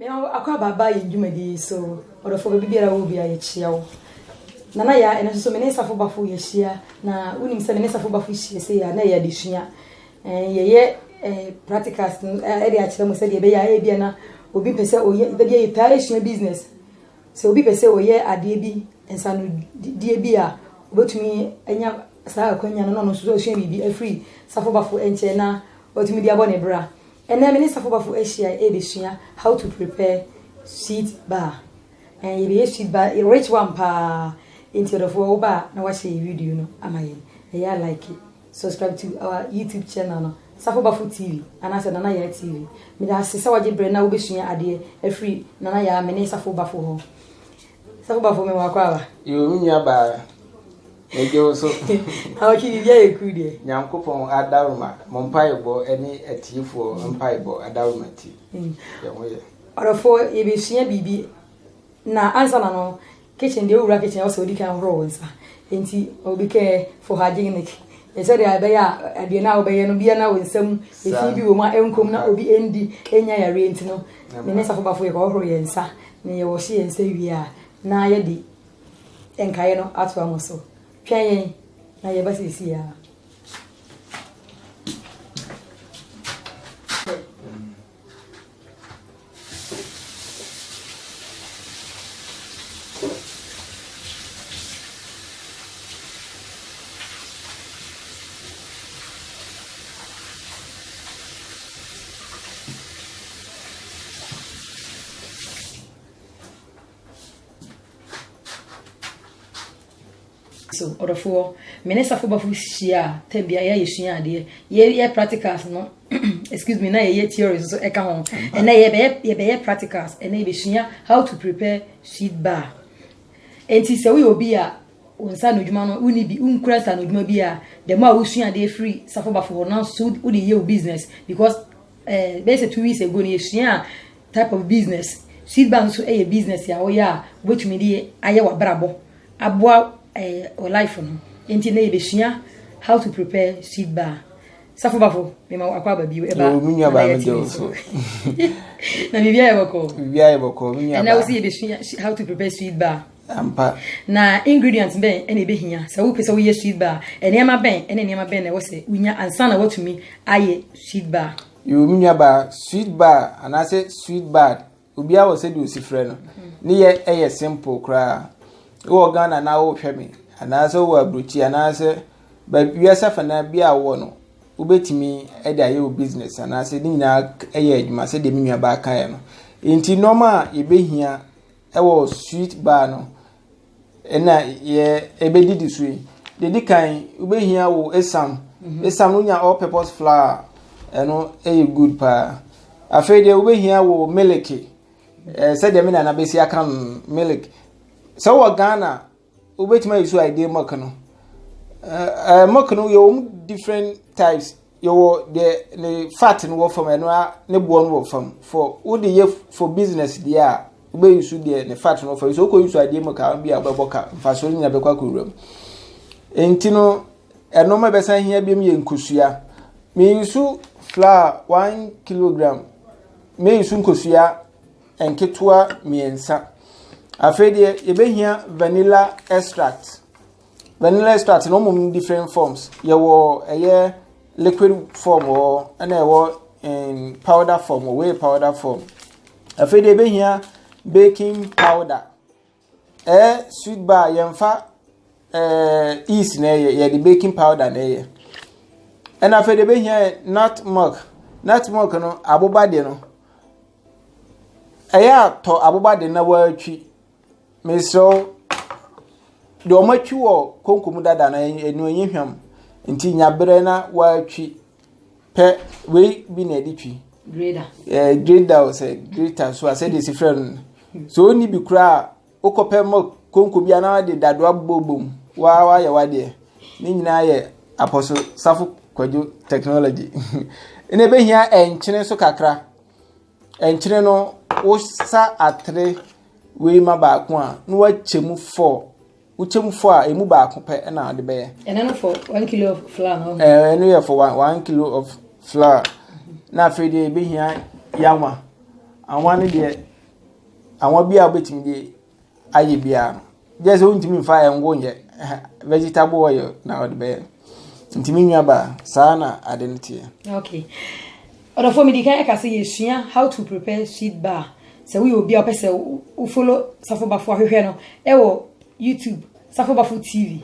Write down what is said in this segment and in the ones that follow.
Me ho akɔ abaaba yɛn dwumadi yi so. Ɔdɔfo baabi biara wɔ biara yɛkyia wo. Nana Yaa, ɛno nso so me ne Safo Bafo yɛahyia na wonim sɛ me ne Safo Bafo hyia sɛ yɛ na ɛyɛ adesua. Eh, yɛyɛ eh, practicals no eh, ɛde akyerɛ mo sɛdeɛ ɛbɛyɛ a ebia na obi pɛ sɛ ɔyɛ, baabi a yɛtaa esua business. Sɛ obi pɛ sɛ ɔyɛ adeɛ bi, nsanodie bi a, obɛtumi anya saa akwanya no na ɔno nso so asua biribi afiri Safo Bafo nkyɛn na watumi de abɔ ne bra. Ɛnnɛ me ne Safobafo ahyia rebesua how to prepare sweet bar. Ɛɛ yɛbɛyɛ sweet bar rich one paa. Enti ɔdɔfoɔ wo ba a na wahyɛ yɛ video no ama yɛn. Ɛyɛ a like it. Subscribe to our YouTube channel no Safobafo TV anaasɛ Nana Yaa TV. Meda ase sɛ wagye berɛ na wobɛsua adeɛ afiri Nana Yaa me ne Safobafo hɔ. Sɛ woba fo me wakɔ aba. Yoo me nua baa megye wo so. Awɔtwe biribi ayɛ kuru deɛ. Nyankopɔn adawroma mo mpaebɔ ne atiefoɔ mpaebɔ adawroma ti mm. yɛn ho yɛ. Ɔdɔfoɔ yɛbɛsua biribi na ansa na no kitchen deɛ wowura kitchen ɛwɔ sɛ wodi kan horo wo nsa nti obi kɛ for hygienic sɛdeɛ ɛbɛyɛ a aduane a wobɛyɛ no bia na wo nsam ɛfi bi wɔ mu a ɛnkom na obi ɛndi ɛnya yareɛ nti no ne ne safo bafo yɛ kɔhoro yɛ nsa Nea yɛwɔ hyɛ yɛn nsa wie a, na yɛde nkaeɛ no atoa mo so. Twɛn yɛn na yɛba seesei ara. so ɔdɔfoɔ me ne safo bafo hyia a ta bia yɛ yɛsua adeɛ yɛyɛ practicals no excuse me na yɛyɛ theories nso ɛka ho ɛnɛ yɛbɛyɛ yɛbɛyɛ practicals ɛnɛ yɛbɛsua how to prepare seed bar nti sɛ woyɛ obi a wo nsa no adwuma no woni bi wonkura nsa no adwuma bi a the more a wosua adeɛ firi safo bafo hɔ na so wode yɛ wo business because uh, eh, basically two weeks ago no yɛsua a Type of business, Seed bank nso yɛ business a woyɛ a wobɛtumi de ayɛ w'abrabɔ, aboa wo life no. Enti nnɛ yɛbɛsua how to prepare seed bank. Safo Bafo, mema wo akɔ aba bio, ɛba oh, na na yɛte me so. na biribi ayɛ bɔkɔɔ. Biribi ayɛ bɔkɔɔ, me nua ba. Ɛnna wosi yɛbɛsua how to prepare seed bank. Ampa. Na ingredients bɛn ɛna ɛbɛhia sɛ wopɛ sɛ woyɛ seed bank, nneɛma bɛn ɛne nneɛma bɛn na ɛwɔ sɛ wonya ansa na woatumi ayɛ seed bank. Yoo me nua baa sweet bar anaasɛ sweet bad obiara wɔ sɛdeɛ osi frɛ no ne yɛ ɛyɛ simple koraa wɔ Ghana na wohwɛ me anaasɛ wɔ aburokyi anaasɛ baabi wiase afanaa bi a wɔ no wobɛtumi de ayɛ wo business anaasɛ ne nyinaa ɛyɛ adwuma sɛdeɛ me nua baa kaeɛ no nti nneɛma a yɛbɛhia ɛwɔ sweet bar no Ɛna yɛ ɛbɛdidi so yi deɛ ɛdi kan wobɛhia wo esam mhm. esam no nya all purpose flour ɛno ɛyɛ good paa afei deɛ wobɛhia wo milk ɛɛ sɛdeɛ me nana bɛsi aka no milk sɛ wɔ ghana wobɛtumi ayi so ayi deɛ milk no ɛɛ milk no yɛ wɔn different types. yɛwɔ deɛ ne fat no wɔ fam ɛno ara ne boɔ no wɔ fam for wode yɛ for business deɛ a wobɛyi so deɛ ne fat no wɔ fam so wokɔ yi so adeɛ mu ka bi a wobɛbɔ ka mfasoɔ no nyinaa bɛkɔ akɔwura mu nti no ɛnɔma ɛbɛsan hia biom yɛ nkosua meyi so flour one kilogram meyi so nkosua nketewa mmiɛnsa afei deɛ yɛbɛhia vanilla extract Vanilla extract no mmom different forms. Yɛwɔ ɛyɛ liquid form wɔ ɛna ɛwɔ in powder form wɔ wei powder form. Afei deɛ ebehia baking powder. Ɛyɛ sweet bar yɛmfa ɛɛ yeast na ɛyɛ yɛde baking powder na ɛyɛ. Ɛna afei deɛ ebehia nut milk. Nut milk no aboba deɛ no ɛyɛ atɔ aboba deɛ na wɔatwi. Mesrɛ wo, deɛ wɔn atwi wɔ konko mu dada no ɛnu ɛnyɛ hwam nti nya berɛ na wɔatwi pɛ wei bi na ɛde twi greda ɛɛ greda o sɛ greta so a sɛdeɛ si frɛ no so ɔnni bi koraa a wokɔpɛ ma konko bi anaa de dadoa bobɔ mu waa wayɛ wadeɛ ne nyinaa yɛ apɔso safo kwadwo technology ɛna ɛbɛhia ɛnkyene nso kakra. Nkyene no, wosa atere wei ma baako a, na woakyɛ mu four. Wokyɛ mu four a, emu baako pɛ na wode bɛyɛ. Ɛno no for one kilo of flour no? Ɛɛ, ɛno yɛ for one, one kilo of flour. Na afei deɛ ebehia yawa. Awa no deɛ, awa bi a wobɛtumi de ayɛ biaa no gye sɛ wontumi mfa ngo nyɛ vegetable oil na wɔde bɛyɛ nti me nua baa saa na ade no teɛ okay ɔdɔfoɔ medi kan ɛka sɛ yɛsua how to prepare sweet bar sɛ woyɛ obi a wopɛ sɛ wofolo safo bafo ahwehwɛ no ɛwɔ youtube safo bafo tv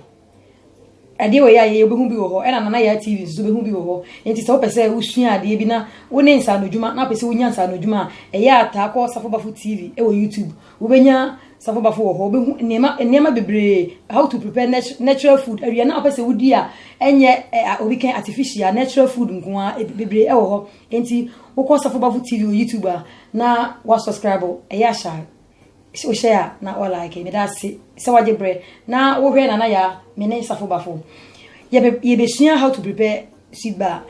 Adeɛ wei a yɛyɛ wobɛhu bi wɔ hɔ ɛna Nana Yaa TV nso wobɛhu bi wɔ hɔ. Enti sɛ wopɛ sɛ wosua adeɛ bi na wo ne nsaano adwuma na wopɛ sɛ wonya nsaano adwuma a, ɛyɛ a taa kɔ Safo Bafo TV wɔ YouTube. Wobɛnya Safo Bafo wɔ hɔ. Wobɛhu nneɛma nneɛma bebree, how to prepare natu natural food. Aduane a wopɛ sɛ wodi a ɛnyɛ ɛ a obi kɛn artificial, natural food nko ara eb bebree wɔ hɔ. Enti wokɔ Safo Bafo TV wɔ YouTube a na woasɔskraibo, ɛyɛ a hyɛ a sɛ o hyɛ a na o like meda ase sɛ wagye brɛ na wohwɛ nana ya me ne safo bafo yɛbɛsua how to prepare sweet bar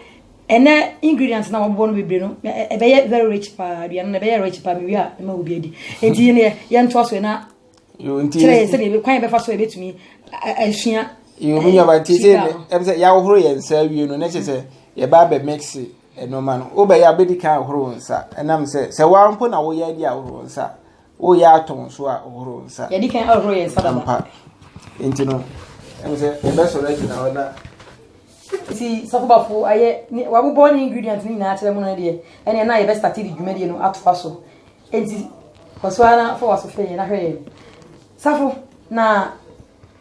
ɛnɛ ingredients na wɔbɔ no bebree no ɛbɛyɛ e, e, very rich paa aduane no ɛbɛyɛ rich paa mewie a ɛma obi adi nti yɛn yɛntoa so na kyerɛ yɛn sɛdeɛ kwan yɛbɛfa so yɛbɛtumi asua yɛn mu nyaba nti sɛ ɛbɛ sɛ yɛahohoro yɛn nsa awie no na kyerɛ sɛ yɛba abɛ mix Ɛno ma no, wobɛyɛ abɛdi kan ahohoro wo nsa. Ɛnam sɛ, sɛ woara mpo na woyɛ adi ahohoro wo nsa a, woreyɛ atɔ wo so a hohoro wo nsa. Yɛdi kan ahohoro yɛn nsa dada. Ampa. Enti no, ɛmu sɛ yɛbɛsɔre agyina hɔ na. Nti sɔfo bafo ayɛ ne wabobɔ ne ingredients no nyinaa akyerɛ mu no deɛ, ɛnneɛ na yɛbɛstate de dwumadie no atoa so. Enti kɔ so ara na fa w'aso hwɛ yɛn na hwɛ yɛn. Safo, na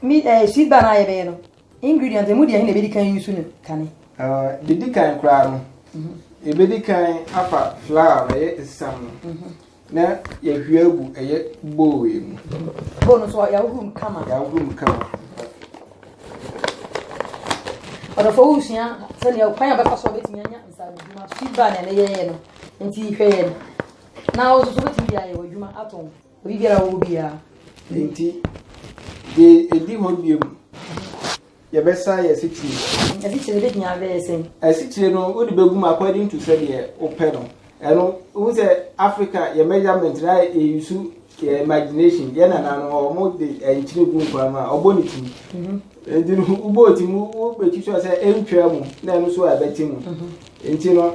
me ɛɛ sweet bar no a yɛbɛyɛ no, Ingredients, Emu deɛ he na yɛbɛdi kan ayusu no kane? Deɛ ɛdi kan koraa no, yɛbɛdi kan afa flour no, ɛyɛ esiam no, na yɛahwie agu ɛyɛ bowl yi mu. Bowl no nso yɛahohoro mu kama. Yɛahohoro mu kama. Ɔdɔfoɔ wo resua sɛdeɛ kwan a bɛfa so a bɛtumi anya nsaanodwuma so. Feedback na ɛyɛyɛ no, nti hwɛ yɛn na wo nso so wobɛtumi de ayɛ w'adwuma atɔn. Obi biara a ɔwɔ biara. Enti, deɛ ɛdi hɔ bio no, yɛbɛsa yɛ asikyire. Asikyire no bɛtumi abɛyɛ sɛn? Asikyire no, wode bɛgu mu according to sɛdeɛ wopɛ no. Ɛno, wohu sɛ Africa, yɛ measurement no ayɛ yɛyusu yɛ imagination. Yɛ nana no, wɔn de nkyene gu nkwa mu a, ɔbɔ ne ti. Nti no, wobɔ ti mu, wobɛtwitwa sɛ ɛntwa mu, na ɛno so a ɛbɛte mu. Nti no,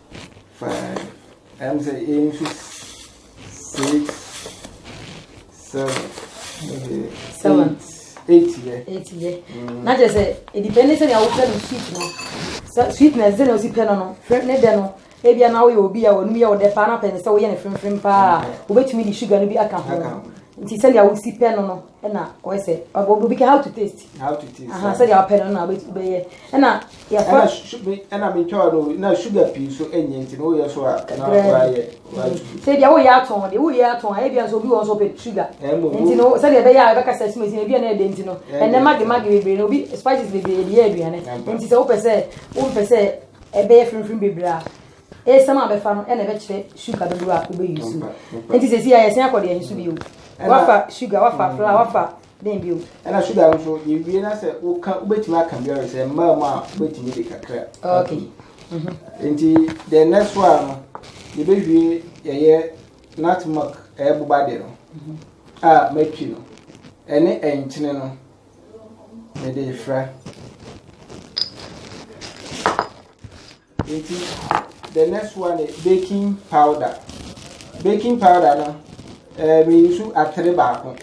five ɛm sɛ yɛn nso six seven ɛdi seven eight yɛ eight yɛ mm. na kyerɛ sɛ ɛdi pɛ ne sɛ nea wofɛ no sweet no sweet na ɛsɛ na osi pɛ no no ne dɛ no ebi anaw yɛ obi a wɔnum yɛ ɔdɛ paa na pɛn sɛ woyɛ ne fimfim paa mm. wobɛtumi de sugar no bi aka ho nti sɛdeɛ wosi pɛ no no ɛna ɔyɛ sɛ obi ka how to taste sɛdeɛ wopɛ no na wobɛyɛ ɛna Yɛfa. Ɛna me twaa no na sugar pii nso ɛnyɛ nti na woyɛ so a na wayɛ watu. Sɛ bia woyɛ atɔn de woyɛ atɔn a ebia nso obi wɔn nso ɔpɛ sugar. Nti no sɛ deɛ ɛbɛyɛ a ɛbɛka sɛ sumasi na ebi a na ɛde nti no ɛnɛ magi magi bebree na obi spices bebree yɛde yɛ aduane nti sɛ wopɛ sɛ wompɛ sɛ ɛbɛyɛ firinfirin bebree a esɛm a bɛfa no ɛna ɛbɛkyerɛ sugar dodoɔ a wobɛyi so nti sɛ si a yɛsɛn akɔ deɛ nso bio wafa sugar wafa flour wafa. Dɛn bio? Ɛna sugar no nso, yɛwie na sɛ woka, wobɛtumi aka biara sɛ mmaa mu a wobɛtumi de kakra. Okay. Mm-hmm. Nti the next one no, yɛbɛwie yɛyɛ nut milk ɛyɛ boba de no mm-hmm. a matwi no ɛne ɛnkyene no mede fra. Nti the next one is baking powder. Baking powder no, eh, me use atere baako.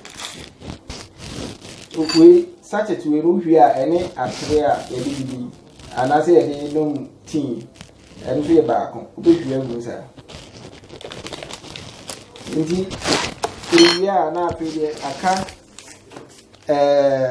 Wei sachet wei no hwie a ɛne atere a yɛde didi anaasɛ yɛde nom tea ɛno nso yɛ baako. Wobɛhwie agu saa. Nti ewie a na afei deɛ aka ɛɛ. Eh,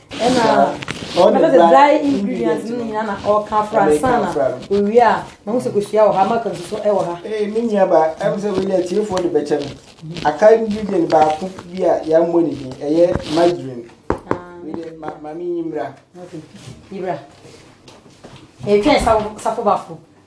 ɛna ɔde dry dry ingredients no nyinaa na ɔka afra nsa na owie a mahu sɛ kosua wɔ ha maka nsu so wɔ ha ee me nua ba ɛm sɛ wei deɛ tiefoɔ de bɛkyɛ me aka ingredient baako bi a yɛammɔ ne din ɛyɛ margarine wei deɛ ma ma menyi mmra yibra ɛtwɛn safo bafo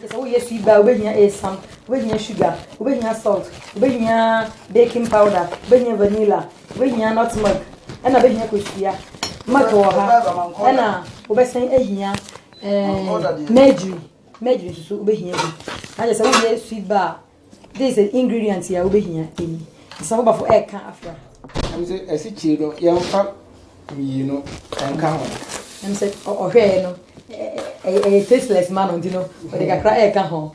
Kyɛ sɛ woyɛ sweet bar a, wobɛhia esiam, wobɛhia sugar, wobɛhia salt, wobɛhia baking powder, wobɛhia vanilla, wobɛhia nutmeg, ɛna wobɛhia kosua. Milk wɔ ha, ɛna wobɛsan ahia eh, mercury, mercury nso so wobɛhia bi. Na kyɛ sɛ woyɛ sweet bar a, This is ingredient yɛ a wobɛhia ɛni. Nsabobafo ɛka afra. Ɛm sɛ asikyire no yɛmfa mmienu nka ho. Ɛm sɛ ɔhwɛɛ no ɛyɛ tasteless ma no nti no ɔde kakra ɛka ho.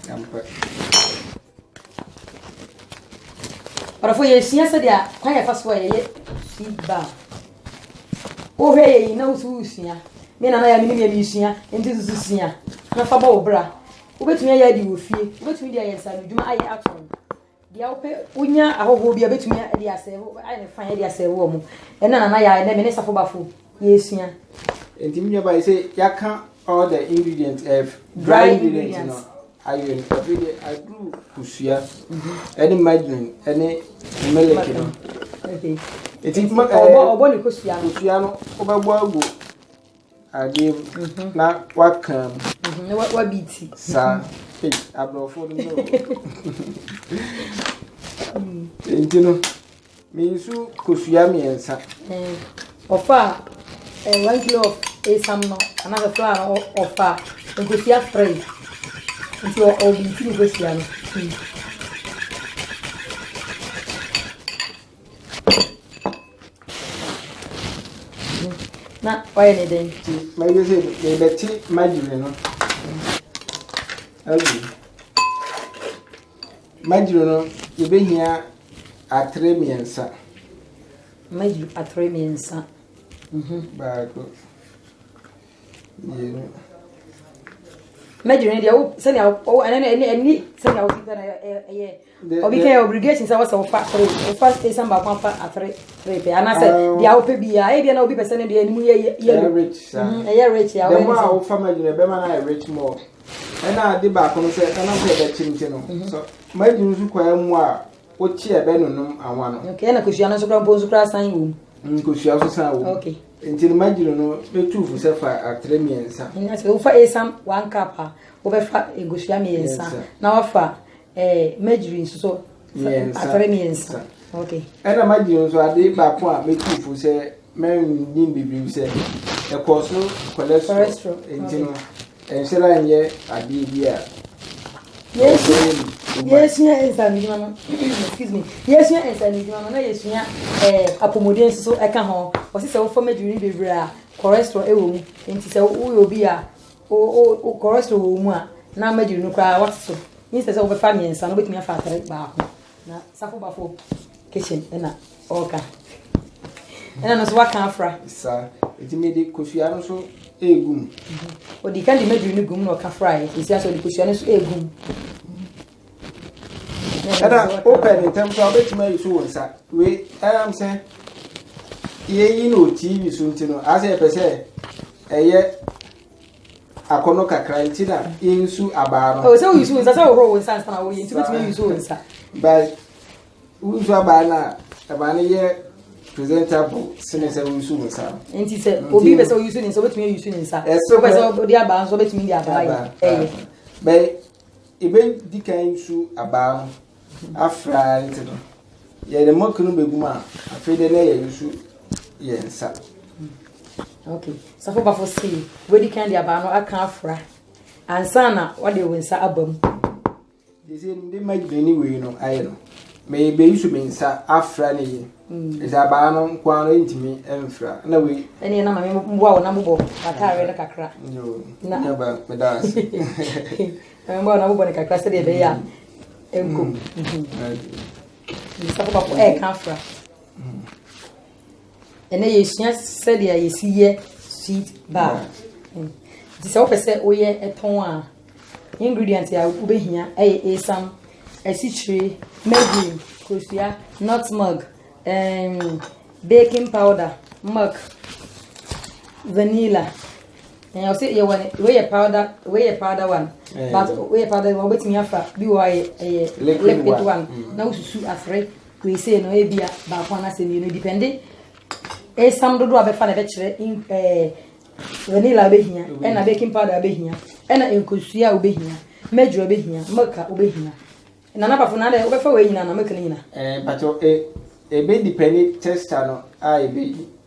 Ɔdɔfo yɛsua sɛdeɛ kwan yɛfa so a yɛyɛ sweet bar. Wohwɛ yɛ yi na wosu wosua. Me nana yɛ me ne yɛ mesua nti susu sua na fa bɔ wo bra. Wobɛtumi ayɛ adi wɔ fie. Wobɛtumi de ayɛ nsaanodwuma ayɛ atɔn. Deɛ wopɛ, wonya ahɔhoɔ bi a wobɛtumi de asɛe wo, ayɛ no fan de asɛe wo wɔn. Ɛna nana yɛ ɛnɛ me ne Safo Bafo yɛresua. Nti mi nuaba yi sɛ yɛaka all the ingredients ɛf eh, dry ingredients no ayɛ no afei deɛ aduru kosua ɛne mhm. margarine ɛne milk no. Nti ɔbɔ ne kosua no. Kosua no wobɛbɔ agu. Adeɛ mu na waka mu. Na wabi ti. Saa. Aborɔfo no no. Nti no, me nsu kosua mmiɛnsa. Ɔfa one kilo of esam no anaasɛ flour no ɔfa nkosua three. Nti ɔbi ti nkosua no. na ɔyɛ ne dɛn. ti mɛyɛ sɛ yɛbɛte magyere no agu magyere no yɛbɛhia atere mmiɛnsa magyere atere mmiɛnsa mhm. baako mmienu magyere no deɛ sɛnea ɛne sɛnea wosika no ɛyɛ Obi kɛ obligation sɛ wɔsɛ wofa three wofa station baako afa atere three pɛ anaasɛ deɛ wopɛ biara ebi na obi pɛ sɛ ne deɛ anim yɛ yellow ɛyɛ rich a dɛm a wofa ma adwuma ɛbɛma no ayɛ rich more ɛna ade baako no sɛ ɛnam sɛ ɛbɛkyem nti no so ma adwuma nso kwaa mu a wokye ɛbɛnonom anwa no okay ɛna kosua no nso kora mpo nso kora san wɔ mu nkosua nso san wɔ mu okay nti no magyiri no bɛtu fo sɛ fa atere mmiɛnsa wofa asam one cup a wobɛfa nkosua mmiɛnsa na wafa Eh, magyiri nso so atare mmiɛnsa. Okay. Ɛna magyiri nso ade baako a mɛtu fo sɛ mɛnnim bebree sɛ ɛkɔ so cholesterol nti no ɛnhyɛra nyɛ adeɛ bi a yɛsua nsanodwuma no excuse me yɛsua nsanodwuma no na yɛsua eh, apɔmuden nso so ɛka ho ɔsi sɛ wofa magyiri no bebree a cholesterol ɛwɔ mu nti sɛ woyɛ obi a Cholesterol wɔ mu a, na mɛgyiri no koraa wate so. Instead sɛ wobɛfa mmiɛnsa no wobɛtumi afa atere baako. Na safo bafo kitchen ɛna ɔka. Ɛna no nso waka afra. Sa, eti me de kosua no so egum. Odi kan de mɛgyiri no gum na ɔka fra yɛ. Esi asɛ ɔde kosua no so egum. ɛna wopɛ ne ntɛm koraa wobɛtumi ayi so wo nsa wei ɛnam sɛ yɛyi no tv so nti no asɛ yɛpɛ sɛ ɛyɛ akɔnɔ kakra nti na yɛnsu abaa no ɛwɔ sɛ woyi so wo nsa sɛ wohoro wo nsa nsa na woyɛ nti wobɛtumi ayi so wo nsa but wonsu abaa no a ɛma no yɛ presentable sene sɛ woyi so wo nsa no nti sɛ obi pɛ sɛ woyi so ne nsa wobɛtumi ayi so ne nsa wopɛ sɛ wode abaa nso wobɛtumi de abaa yɛ ɛyɛ Yebedi kan etu abaa no afra ntsi no, yɛdze mɔk no begu mu a, afei dɛ na yerusu yɛn nsa. Okay. Safo bafo si wedi kan de abaa no aka afra ansa na wɔde wo nsa aba mu. Dze no de ma gyinae wei no ayɛ no. Me beyi so me nsa afra ne yi. Ɛsɛ abaa no nko ara no ntumi mfra. Na wei. Ɛne na maame mboa wo na mobɔ w'ataare no kakra. Yoo, na ba meda ase. Maame mboa wo na mobɔ no kakra sɛdeɛ ɛbɛyɛ a ɛnko. Mbisa papa po ɛɛka afra. ɛnɛ yɛsua sɛdeɛ yɛsi yɛ sweet bar nti sɛ wopɛ sɛ woyɛ ɛtɔn a ingredient a wobɛhia ɛyɛ esam asikyire margarine kosua nutmeg um, baking powder milk vanilla ɛyɛ sɛ yɛwɔ weyɛ powder weyɛ powder one but weyɛ powder one wobɛtumi afa bi wɔ ɛyɛ liquid one na wosusu afre Wei sei no ebia baako anaasɛ mmienu depende esam dodoɔ a bɛfa na bɛkyerɛ ɛɛ vanilla bɛhia ɛna baking powder bɛhia ɛna nkosua wobɛhia mɛdwura bɛhia mɛka wobɛhia na nabafo na adɛ wobɛfa wei nyina na mɛka no nyina. Ɛɛ mpatɔ ɛbɛ depende texture no a ɛbɛyi.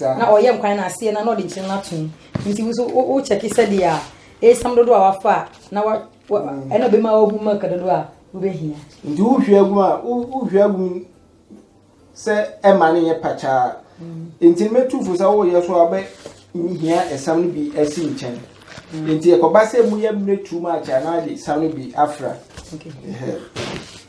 na ɔyɛ nkwan no aseɛ na na ɔde nkyene no ato mu nti wo nso wo kyɛke sɛdeɛ a ɛsam dodoɔ a wafa a na wa ɛna bɛma wahu milk dodoɔ a wobɛhia nti wohwie agu a wohwie agu mu sɛ ɛma no yɛ pakyaa nti no mɛtu fo sɛ woyɛ so a wobɛhia ɛsam no bi asi nkyɛn nti ɛkɔba sɛ mu yɛ mmerɛ too much a na ade sam no bi afra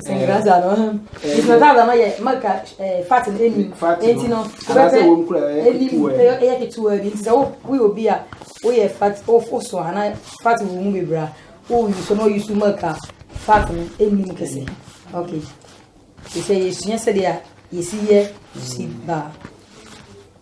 Sɛnkraza no sɛnkraza no yɛ maka ɛɛ fat no enim eti no wobɛpɛ enim ɛyɛ ketewa bi nti sɛ wo woyɛ obi a woyɛ fat woso ana fat wɔ mu bebree a woyi so na oyi so maka fat no enim kɛse ok te sɛ yɛsua sɛdeɛ yɛsi yɛ si baa.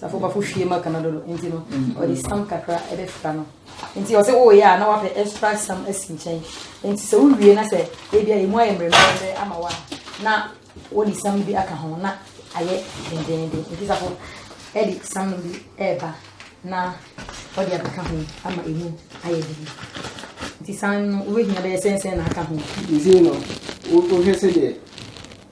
Safo bafo hwie ma kana dodo nti no ɔde sam kakra ɛbɛfra no nti ɔsɛ woyɛ a na wapɛ extra sam asi nkyɛn nti sɛ wowie na sɛ ebi a emu ayɛ mmerɛmmerɛ ama wa na wɔde sam bi aka ho na ayɛ dendenden nti safo ɛde sam no bi ɛɛba na ɔde abɛka ho ama emu ayɛ dede nti sam no wobɛhia bɛyɛ sɛnsɛn na aka ho. Nti no wohwɛ sɛ deɛ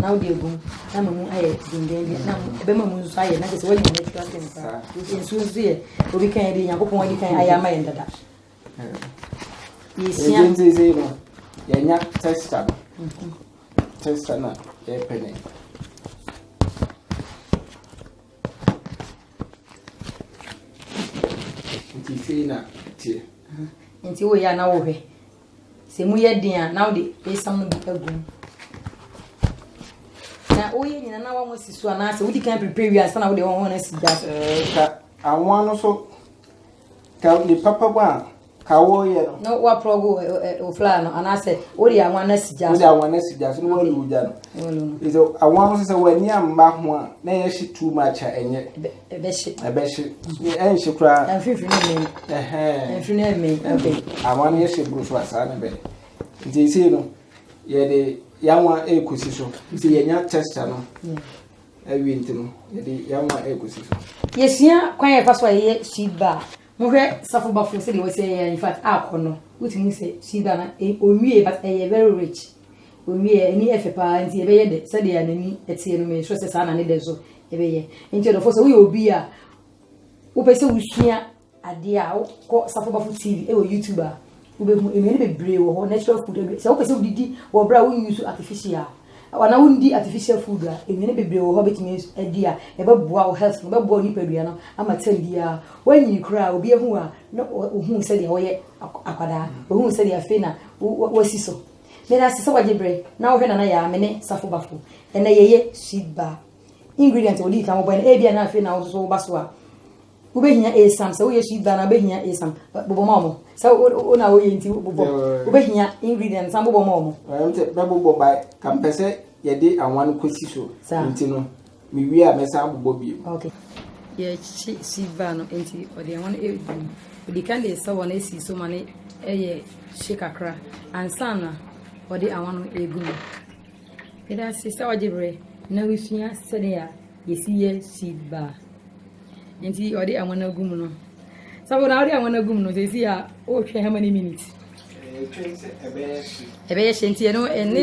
na wode agu mu na ama mu ayɛ dendenden na ɛbɛma mu nso ayɛ na kyerɛ sɛ woanya natural thing saa nsuo nso yɛ obi kan yɛde nyankopɔn adi kan ayɛ ama yɛn dada yɛsua ntinsei no yɛnya testa no mhm. testa no a yɛpɛ ne nti sei na teɛ mhm. nti woyɛ a na wohwɛ Sɛ emu yɛ den a, na wode esiam no bi agu mu. Na woyɛ nyina na wɔn si so anaasɛ wodi kan prepare wie ansa na wode wɔn wɔn asi gya so. Ɛɛ ka anwa no so ka ne papa mu a ka wɔyɛ no. Na wɔaporɔ go ɛ ɛ ofla no anaasɛ wode anwa no asi gya so. Wode anwa no asi gya so na wɔalu gya no. Wɔalu no. Sɛ anwa no sɛ wɔn ani amma ho a na ɛyɛ hye too much a ɛnyɛ. Ɛbɛhye. Ɛbɛhye. Ɛnhye koraa. Ɛmfimfini no mmɛn. Ɛhɛn. Ɛmfimfini no mmɛn. Okay. Anwa no yɛhyɛ buru so a saa na ɛbɛyɛ. Nti esei no yɛde yanwa ɛrekɔsi so. Nti yɛnya texture no awie nti no yɛde yanwa ɛrekɔsi so. Yɛsua kwan a yɛfa so a yɛyɛ sweet bar. Mohwɛ safo bafo sɛdeɛ wɔsi ɛyɛ in fact akɔ no wotumi sɛ sweet bar no ɔnwie but ɛyɛ very rich. Ɔnwie ani ɛfɛ paa nti ɛbɛyɛ dɛ sɛdeɛ n'ani ɛteɛ no mesrɛ sɛ saa na ne dɛ so. Ɛbɛyɛ. Nti ɔdɔfoɔ sɛ woyɛ obi a wopɛ sɛ wosua adeɛ a wokɔ Safo Bafo TV ɛwɔ YouTube a wobɛhu nnuane bebree wɔ hɔ natural food sɛ wopɛ sɛ wodidi wɔ berɛ a wonyusu artificial wana wondi artificial food a nnuane bebree wɔ hɔ bɛtumi adi a ɛbɛboa wo health no bɛboa wo nipadua no ama tɛm biara woanyini koraa obi ahu a na ohuu sɛdeɛ woyɛ akwadaa ohuu sɛdeɛ afei na wasi so Meda ase sɛ wagye bere na wohwɛ Nana Yaa, me ne Safo Bafo. Ɛnɛ yɛyɛ sweet bar. Ingredients a wodii kan wɔbɔe no, ebia na afei na wo nso so woba so a, wobɛhia esam. Sɛ woyɛ sweet bar no a, wobɛhia esam. Ba- Bobɔ ma wɔn. Sɛ wo- wo- wo na woyɛ nti bobɔ. Yeah. Wobɛhia ingredients san bobɔ ma wɔn. Ɛm sɛ bɛbobɔ ba ka mpɛ sɛ yɛde awan kɔsi so Saa. nti no Me wie a me san bobɔ bio. Okay. Yɛkyi sheet bar no nti ɔde ɛho no ɛgu mu. Ɔdi kan de sɛ wɔn esi so ma no ɛyɛ hye kakra ansa na ɔde awa no ɛgu mu. Yɛda ase sɛ ɔgye berɛ na wosua sɛdeɛ a yɛsi yɛ sheet bar. Nti ɔde awa no agu mu no. Sɛ na ɔde awa no agu mu no sɛ ɛsi a ɔrehwɛ how many minutes? Ɛbɛyɛ hye nti ɛno ɛne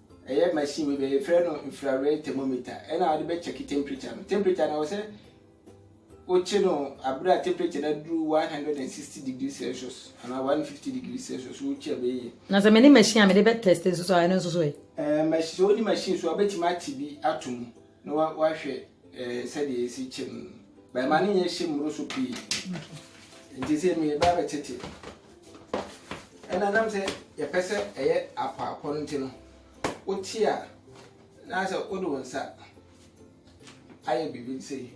Ɛyɛ machine bi bɛ frɛ no infrared thermometer ɛna wɔde bɛ check temperature no. Temperature no ɛwɔ sɛ wo kye no abere a temperature no aduru 160 degree celsius anaa 150 degree celsius wo kye a bɛ yɛ. Na sɛ me ne machine a me de bɛ test nso so a ɛno nso so ɛ? Ɛɛ machine sɛ wo ne machine so a wobɛtumi ate bi ato mu na wahwɛ ɛɛ sɛdeɛ esi kyɛ mu bɛn ma ne nyɛ hyɛ mmoro so pii nti sɛ mi ba bɛ tete ɛna nam sɛ yɛpɛ sɛ ɛyɛ apɔapɔ no nti no wote a na sɛ wode wo nsa ayɛ biribi sɛ yi.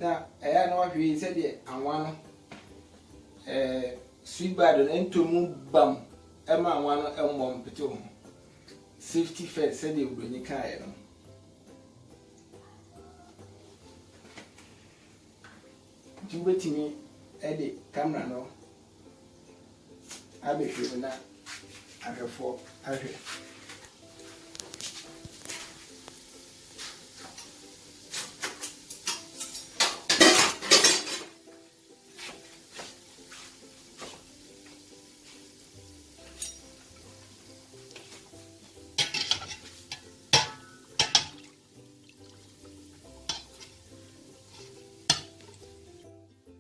na ɛyɛ a na wahwɛ yi sɛdeɛ anwa no ɛɛ sweet bad no ntomu bam ɛma anwa no ɛmmɔ mpete ho safety first sɛdeɛ obroni kaeɛ no. Nti wobɛtumi de camera no abɛhwɛ mu na ahwɛfoɔ ahwɛ.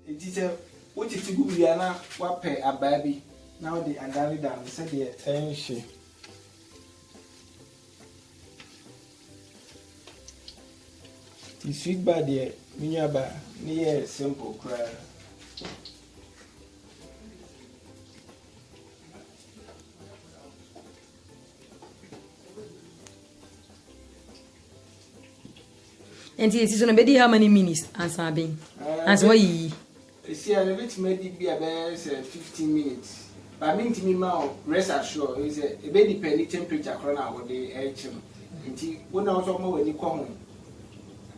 Enti sɛ wote fi gu biribi a na woapɛ abaa bi na wode adane da no sɛdeɛ ɛrenhye. Ti sweet bar deɛ me nua ba ne yɛ simple koraa. nti esi so no bedi how many minutes ansa aben eh, ansa wayiyi esi a ebetumi adi bi a bɛyɛ sɛ fifteen minutes ba mi ntumi ma o rest assure ebi sɛ ebe depend temperature korɔ na wɔde ɛrekye no nti wo na wɔsɔ ɔmo w'ani kɔ ho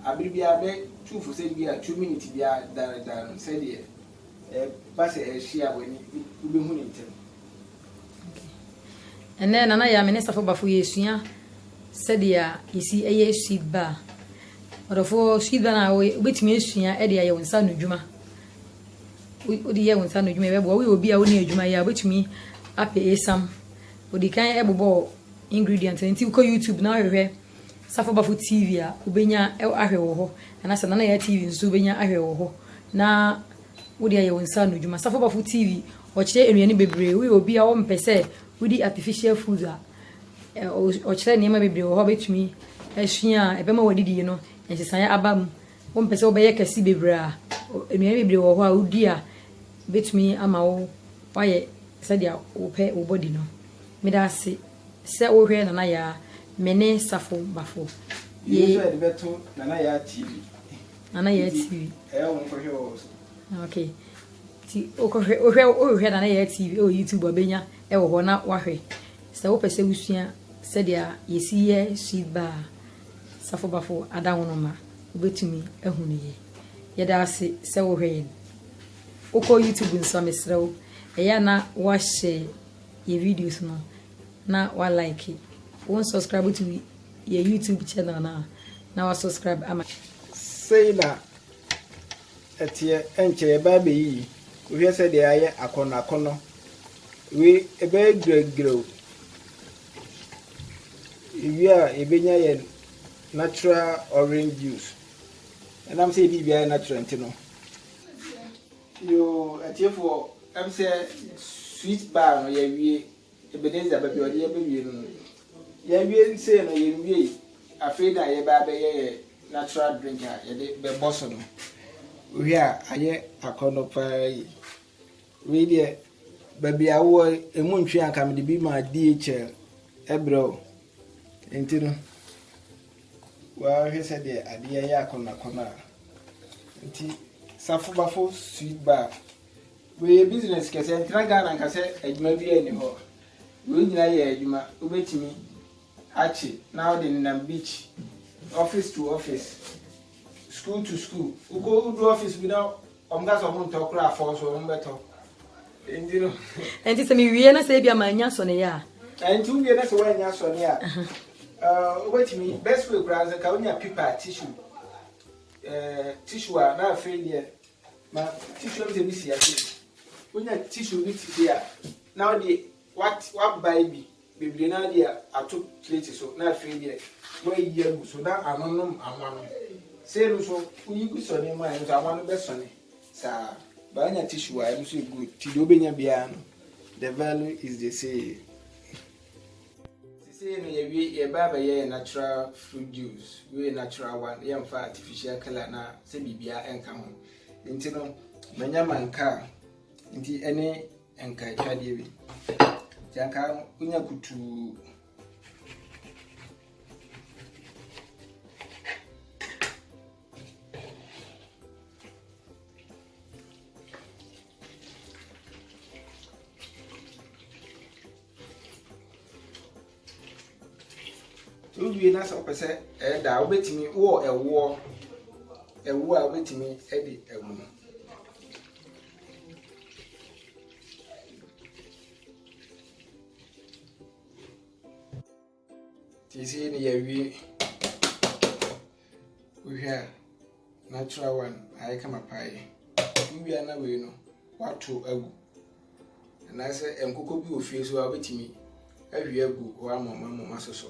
abiri biara bɛ two for sɛ bi a two minutes biara daredare sɛdeɛ. Ɛba sɛ ɛrehyia a, w'ani wu, wobɛhu no ntɛm. Ɛnnɛ, Nana Yah, me ne Safo Bafo yɛresua sɛdeɛ yɛsi yɛ sweet bar. Ɔdɔfoɔ, sweet bar no a woyɛ, wobɛtumi asua de ayɛ wo nsa ano adwuma. Wode yɛ wo nsa ano adwuma ɛbɛboa. Woyɛ obi a wonni adwuma yɛ a, wobɛtumi apɛ esam. Ɔdi kan ɛbobɔ ingredient no nti wokɔ YouTube na wohwehwɛ Safo Bafo TV a wobenya ahwɛ wɔ hɔ, anaasɛ Nana Yaa TV nso wobenya ahwɛ wɔ hɔ, na wode ayɛ wo nsa ano adwuma. Safo Bafo TV, wɔkyerɛ nnuane bebree. Woyɛ obi a wompɛ sɛ wodi artificial food a, wɔkyerɛ nneɛma bebree wɔ hɔ a wobɛtumi asua a ɛbɛma w'adidie no nsesaeɛ aba mu. Wompɛ sɛ wobɛyɛ kɛse bebree a, nnuane bebree wɔ hɔ a wodi a ɛbɛtumi ama wo woayɛ sɛdeɛ wopɛ wo body no. Meda ase. Sɛ wo hwɛ Nana Yaa me ne Safo Bafo yee. Yei nso yɛde bɛto Nana Yaa TV. Nana Yaa TV. Nti ɛyɛ wo nkɔhwɛ wɔ hɔ so. Ok nti wokɔhwɛ wohwɛ wohwɛ Nana Yaa TV ɛwɔ YouTube a bɛnya ɛwɔ hɔ na wahwɛ. Sɛ wopɛ sɛ wosua sɛdeɛ yɛsi yɛ sweet baa Safo Bafo adawonomo a wobɛtumi ahu no yie. Yɛda ase sɛ wohwɛ yɛn. Wokɔ YouTube nso a mesrɛ wo ɛyɛ a na woahyɛ. yɛ videos no na wa like. Wo nsɔskraibu to yɛ YouTube channel no a na wa sɔskraibu ama yɛ. Sei na ɛteɛ, ɛnkyɛ yɛbɛa bɛyiyi, wohwɛ sɛdeɛ ayɛ akɔnɔ akɔnɔ, wei ɛbɛyɛ giragirao, yɛwie a yɛbɛnya yɛn natural orange juice, ɛnam sɛ yɛde biribiara yɛ natural nti no, Yoo atiefoɔ ɛm sɛ sweet bar no yɛawie Ebenezer baabi a ɔde yɛn bɛwie no no yɛawie sei no yɛnwiei afei na yɛbɛ abɛyɛ yɛ natural drink a yɛde bɛbɔ so no wohwɛ a ayɛ akɔnnɔ paa yi wei deɛ baabi a wowɔ ɛmu ntwe anka mede bi maa DHL ɛbrɛ o nti no Woahwɛ sɛdeɛ adeɛ yɛ akɔnɔakɔnɔ a nti safo bafo sweet bar wei business kɛsɛ ntena Ghana nka sɛ adwuma bi ani hɔ wei nyinaa yɛ adwuma wobɛtumi akye na wode nenam beach office to office School to school wokɔ wodu office bi na wɔn ka sɛ wɔn ntɔ koraa fɔɔ so wɔn bɛtɔ nti no. nti sɛ mewie na sɛ ebi ama anya sɔne yɛ a. nti wowie na sɛ woanya sɔne a wobɛtumi best way koraa sɛ ka wonya pipa tissue eh, tissue a na afei deɛ ma tissue no sɛ bi si ase wonya tissue bi titi a na wode What wabae bi bebree na de ato plate so na afei deɛ wayi agu so na ano nom anwa no sei no so woyi gu sɔ nneɛma a ɛno so anwa no bɛsɔne saa baanya tissue a ɛno so yɛ good ti deɛ wobɛnya biara no the value is the same sesei no yɛwie yɛbaa bɛyɛ yɛ natural fruit juice wei natural one yɛmfa artificial color na sɛ biribiara ɛnka ho nti no manya mankaa nti ɛne Nka ɛtwa deɛ bi. Nti anka wonya kutuu. Wowie na sɛ wopɛ sɛ ɛda a wobɛtumi wɔ ɛwoɔ ɛwoɔ a wobɛtumi de agu no Nti sɛ yɛ ne yɛawie wohwɛ a natural one ayɛ kama paa yi wowia na wei no wato agu anaasɛ nkokɔ bi wɔ fie so a wobɛtumi ahwie agu hɔ amɔmamɔma so so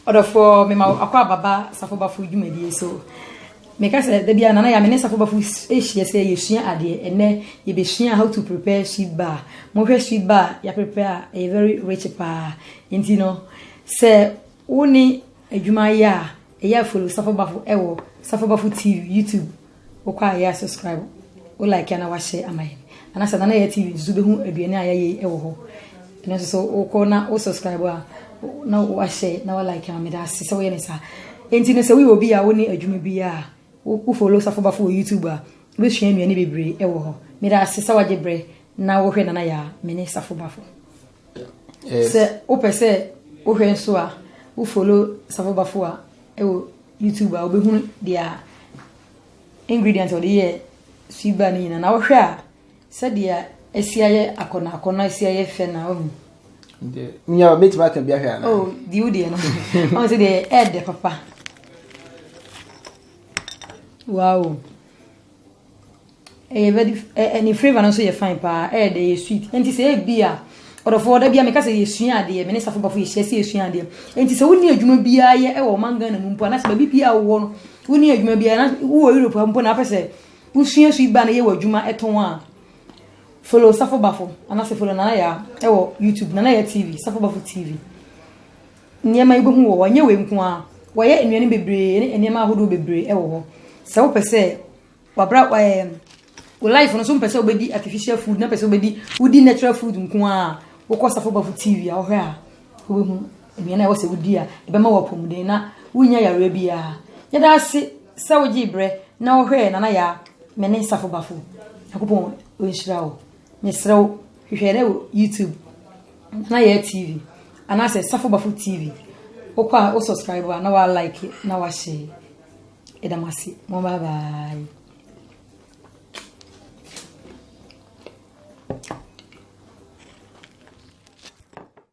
Ɔdɔfoɔ, mema wo akɔ aba ba Safo Bafo dwumadie so. Meka sɛ da biara Nana Yah me ne Safo Bafo hyia sɛ yɛsua adeɛ. Ɛnnɛ yɛbɛsua how to prepare sweet bar. Mohwɛ sweet bar a yɛaprepare a ɛyɛ very rich paa. Nti no sɛ wo ne adwuma yɛ a ɛyɛ a follow Safo Bafo ɛwɔ Safo Bafo TV YouTube. Wokɔ a yɛ a subscribe, wo like a na wa share ama yɛn. Anasɛ Nana Yaya TV nso bɛhu aduane a yɛayɛ yi wɔ hɔ. Ɛno nso so wokɔ na wo subscribe a na wa share na wa like ama meda ase sɛ woyɛ ne saa. Enti no sɛ woyɛ obi a wonni adwuma bi a wo follow Safo Bafo wɔ YouTube a wobɛsua nnuane bebree wɔ hɔ. Meda ase sɛ wagye berɛ na wohwɛ Nana Yaya, mene Safo Bafo. Sɛ wopɛ sɛ wohwɛ nso a, wo follow Safo Bafo a ɛwɔ YouTube a wobɛhunu deɛ ingredient ɔde yɛ sweet bar no nyinaa na wohwɛ a sɛdeɛ asi ayɛ akɔnɔ akɔnɔ asi ayɛ fɛ na wahu nyɛ mɛtumi aka bi ahwɛ anaa oh, di wo deɛ no ɔn sɛ deɛ ɛɛdɛ papa wow Ɛyɛ very f ɛ ɛ ne flavour no nso yɛ fine paa, ɛyɛ dɛ ɛyɛ sweet. Nti sɛ ebi a ɔdɔfoɔ da bi a meka sɛ yɛsua adeɛ, me ne safo bafo yɛhyia sɛ yɛsua adeɛ. Nti sɛ wonni adwuma biara yɛ ɛwɔ ɔman Ghana mu mpo anaasɛ baabi biara a wowɔ no wonni adwuma biara na wowɔ Europe ha mpo na wopɛ sɛ wosua sweet bar no yɛ w'adwuma tɔn a, follow safo bafo anaasɛ follow Nana Yaa ɛwɔ YouTube, Nana Yaa TV, safo bafo TV. Nneɛma yi wobɛhu wɔ hɔ. Ɛnyɛ wei nko ara, wɔayɛ nnuane bebree ne nneɛma ahodoɔ bebree wɔ hɔ. Sɛ wopɛ sɛ wabra ɛɛ wo life no so mpɛ sɛ wobɛdi artificial food na pɛ sɛ wobɛdi wodi natural food nko ara a, wokɔ Safo Bafo TV a wohwɛ a wobɛhu nnuane a ɛwɔ sɛ wodi a ɛbɛma wo apɔmuden na worennya yareɛ biara. Yɛda ase sɛ wogyee berɛ na wohwɛɛ Nana Yaa me ne Safo Bafo. Nyankopɔn ɔnhyira wo. Mesrɛ wo, hwehwɛ dɛ wɔ YouTube na yɛ TV anaasɛ Safo Bafo TV. Wokɔ a wo subscribe a na wa like na wa share. Yɛda mo ase. Mo bye bye.